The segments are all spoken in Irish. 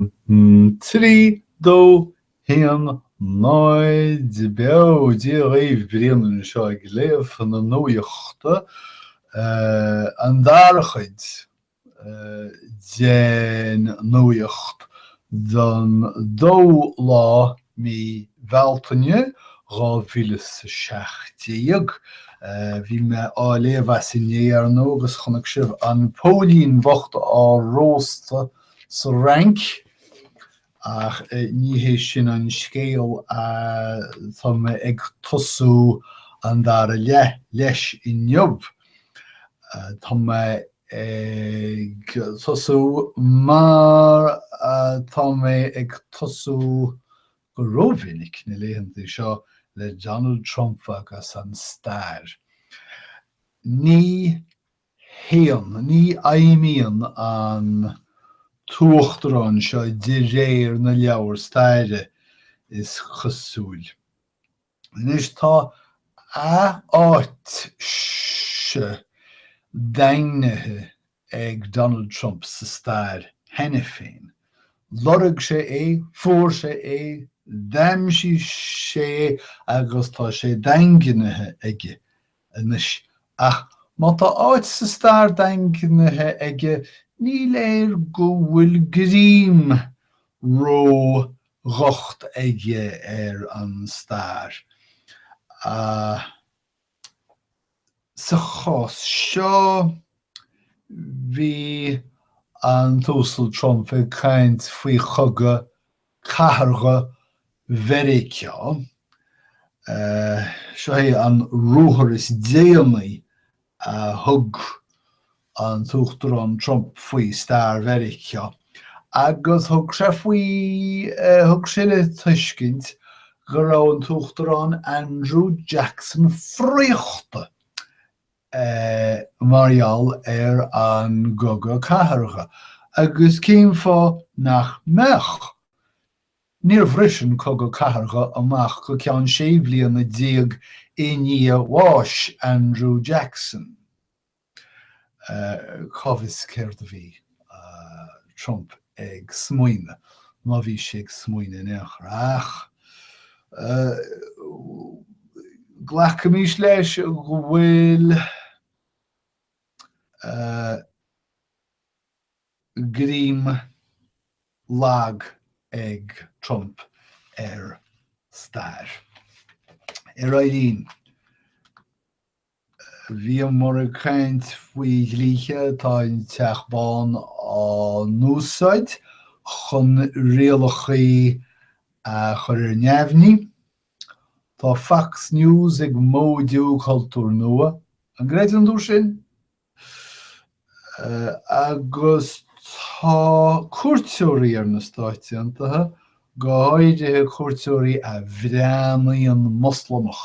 3, 2, 1, 0 Beo! Dia dhaoibh, Brian anseo ag léamh na nuaíochta, an dara chuid den nuaíocht don 2ú lá mí Bhealtaine 2017. Bhí mé á léamh as inné, ar ndóigh, agus chonaic sibh an póilín bhocht á róstadh sa Fhrainc. Ach ní hé sin an scéal, tá mé ag tosú an dara leath leis inniu. Tá mé ag tosú mar atá mé ag tosú go rómhinic na laethanta seo le Donald Trump agus an stair. Ní. 1. Ní fheidhmíonn an tUachtarán seo de réir na leabhar staire, is cosúil. Anois, tá a áit-se daingnithe ag Donald Trump sa stair cheana féin. Lorg sé é, fuair sé é, d'aimsigh sé é, agus tá sé daingnithe aige. anois, ach má tá áit sa stair daingnithe aige, ní léir go bhfuil greim ró-dhocht aige ar an stair. Sa chás seo, bhí an tUasal Trump ag caint faoi chogadh cathardha Mheiriceá. Seo é an ruathar is déanaí a thug an tUachtarán Trump faoi stair Mheiriceá agus thug sé faoi, thug sé le tuiscint go raibh an tUachtarán Andrew Jackson fraochta mar gheall ar an gcogadh cathartha. Agus cén fáth nach mbeadh? Níor bhris an cogadh cathartha amach go ceann sé bhliana déag i ndiaidh bhás Andrew Jackson. Cá bhfios céard a bhí. Trump ag smaoineamh, má bhí sé ag smaoineamh in aon chor. Ach glacaimis leis go bhfuil greim lag ag Trump ar stair, ar Éirinn. Bhíomar ag caint faoi dhlíthe atá an Teach Bán ag úsáid chun rialacháin a chur ar neamhní. Tá Fox News ag móidiú cultúir nua, an gcreideann tú sin? Agus tá cuairteoirí ar na Stáit Aontaithe, go háirithe cuairteoirí a bhreathnaíonn Moslamach,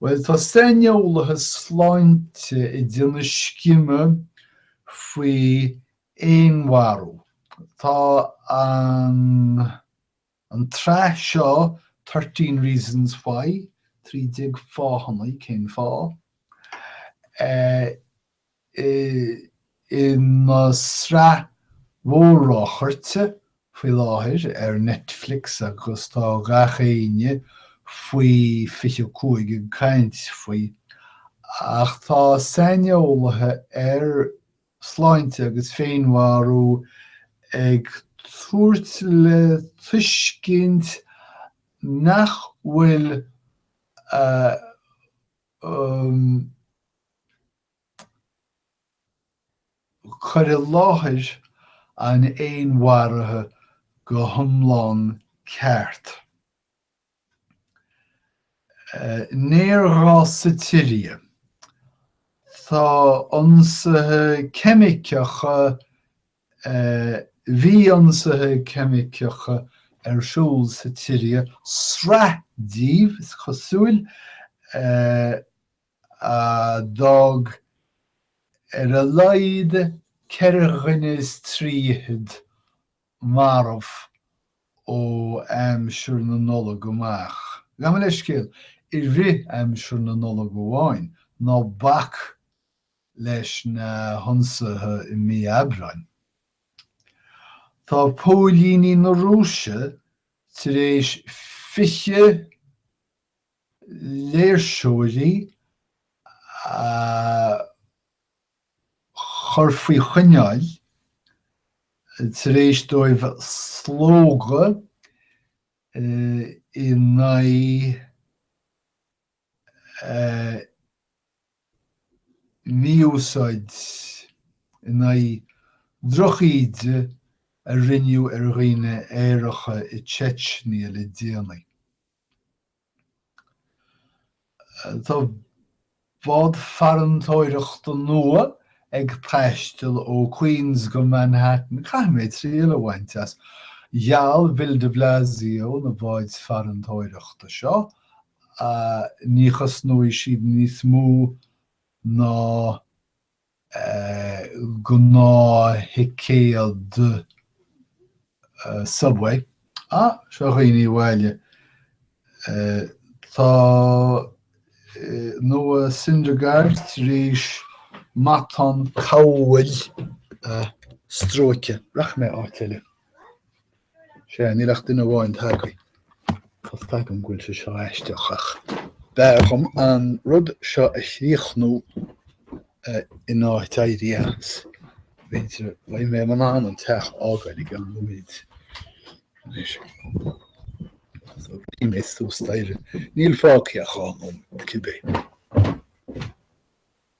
Bhuel, tá saineolaithe sláinte ag déanamh scime faoi fhéinmharú. Tá an tsraith seo Thirteen Reasons Why, trí déag fáthanna cén fáth, ina sraith mhór-ráchairte faoi láthair ar Netflix agus tá gach éinne faoi 25 ag caint faoi. Ach tá saineolaithe ar shláinte agus féinmharú ag tabhairt le tuiscint nach bhfuil a Cur i láthair an fhéinmharaithe go hiomlán ceart. Néarghás sa tSiria. Tá ionsaithe ceimiceacha Bhí ionsaithe ceimiceacha ar siúl sa tSiria, sraith díobh, is cosúil, a d'fhág ar a laghad ceithre dhuine is trí fichid marbh ó aimsir na Nollag amach. Gabh mo leithscéal, i rith aimsir na Nollag amháin, ná bac leis na hionsaithe i mí Aibreáin. Tá póilíní na Rúise tar éis 20 léirseoirí a chur faoi choinneáil tar éis dóibh slógadh in aghaidh mí-úsáid in aghaidh drochíde a rinneadh ar dhaoine aeracha i Chechnya le déanaí. Tá bád farantóireachta nua ag taisteal ó Queens go Manhattan, caithfidh mé triail a bhaint as. Gheall Bill de Blasio na báid farantóireachta seo ní chosnóidh siad níos mó ná gnáththicéad subway. Ah, seo a dhaoine abhaile. Tá Noah Syndergaard tar éis matán cabhlach a stróiceadh. Rachaidh mé áit eile. Sea, níl ach duine amháin tagtha. Tá a fhios agam go bhfuil sé seo aisteach, ach b'fhearr dhom an rud seo a chríochnú in áit éirí as. B'fhéidir beidh mé in ann an teach a fhágáil i gceann nóiméid. Anois, más ag rith mé suas d'Éirinn, níl fágtha ach dhá nóiméad, cibé.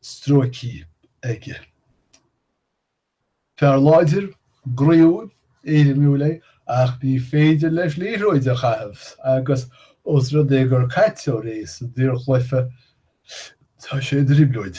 stróicí aige. Fear láidir, groíúil, éirimiúil é ach ní féidir leis liathróid a chaitheamh agus os rud é gur caiteoir é sa daorchluiche, tá sé i dtrioblóid.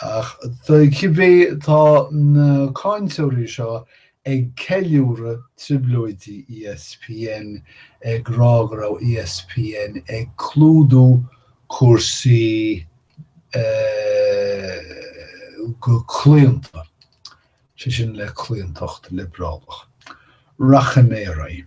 Ach tá cibé, tá na cáinteoirí seo ag ceiliúradh trioblóidí ESPN, ag rá go raibh ESPN ag clúdú cúrsaí go claonta, sé sin le claontacht liobrálach. Rachaidh mé ar aghaidh.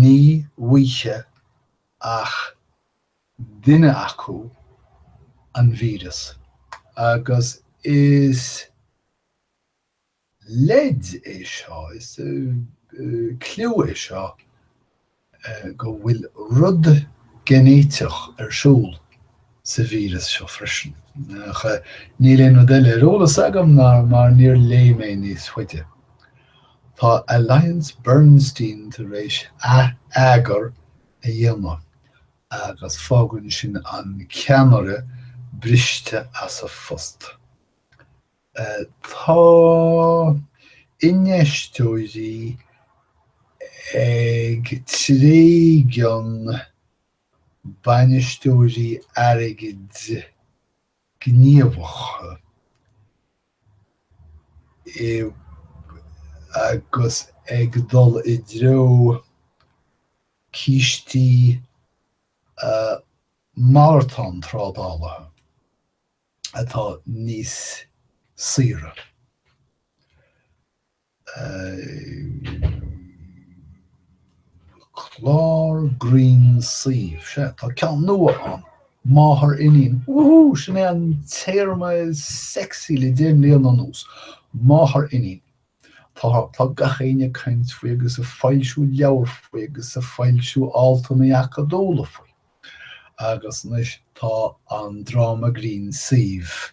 Ní bhfaigheadh ach duine acu an víreas, agus is leid é seo, is cliú é seo go bhfuil rud geinéiteach ar siúl. sa víreas seo freisin. Ach níl aon rud eile ar eolas agam mar níor léigh mé níos faide. Tá Alliance Bernstein tar éis atheagar a dhéanamh agus fágann sin an ceannaire briste as a phost. Tá infheisteoirí ag tréigean. bainisteoirí airgid gníomhacha agus ag dul i dtreo cistí malartán trádáilte atá níos saoire. Clár grinn suímh. Sea, tá ceann nua ann, Máthair Iníon. Wúhú! Sin é an téarma sexy le deich mbliana anuas. Máthair Iníon. Tá, tá gach éinne ag caint faoi agus ag foilsiú leabhar faoi agus ag foilsiú altanna acadúla faoi. Agus anois tá an dráma grinn suímh.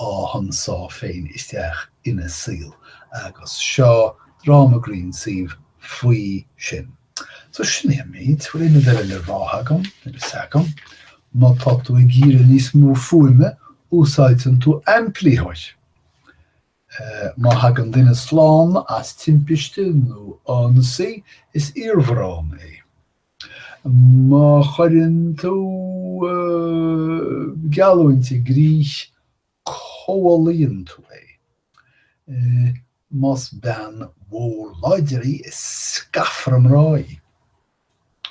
á hionsá féin isteach ina saol agus seo dráma grinn suímh faoi sin. So sin é an méid, bhfuil aon rud eile le rá agam? Níl 's agam. Má tá tú ag iarraidh níos mó fuaime, úsáideann tú aimplítheoir. Má thagann duine slán as timpiste nó ionsaí, is iarmharán é. Má chuireann tú geallúint i gcrích, comhlíonann tú é. Más bean mhór láidir í, is scafaire mná í.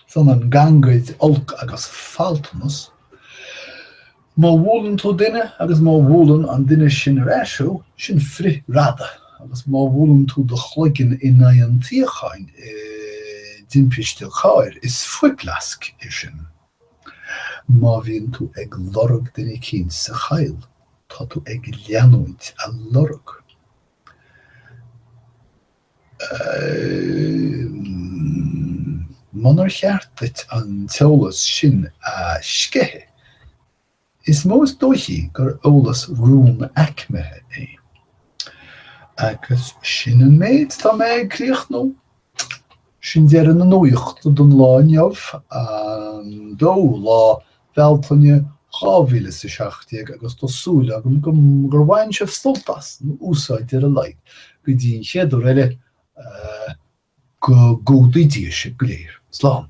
Is ionann gangaid olc agus faltanas, Má bhuaileann tú duine agus má bhuaileann an duine sin ar ais thú, sin frithradadh, agus má bhuaileann tú do chloigeann in aghaidh an tsuíocháin i dtimpiste cairr, is fuiplasc é sin. Má bhíonn tú ag lorg duine eicínt sa choill, tá tú ag leanúint a lorg. Munar cheart duit an t-eolas sin a sceitheadh, is mó is dóichí gur eolas rúnaicmithe é. Agus sin an méid atá mé ag críochnú. Sin deireadh na nuachta don lá inniu, an dóú lá Bhealtaine 2017 agus tá súil agam gur bhain sibh sult as, nó úsáid ar a laghad, go dtí an chéad uair eile, go gcumhdaí Dia sibh go léir. Slán.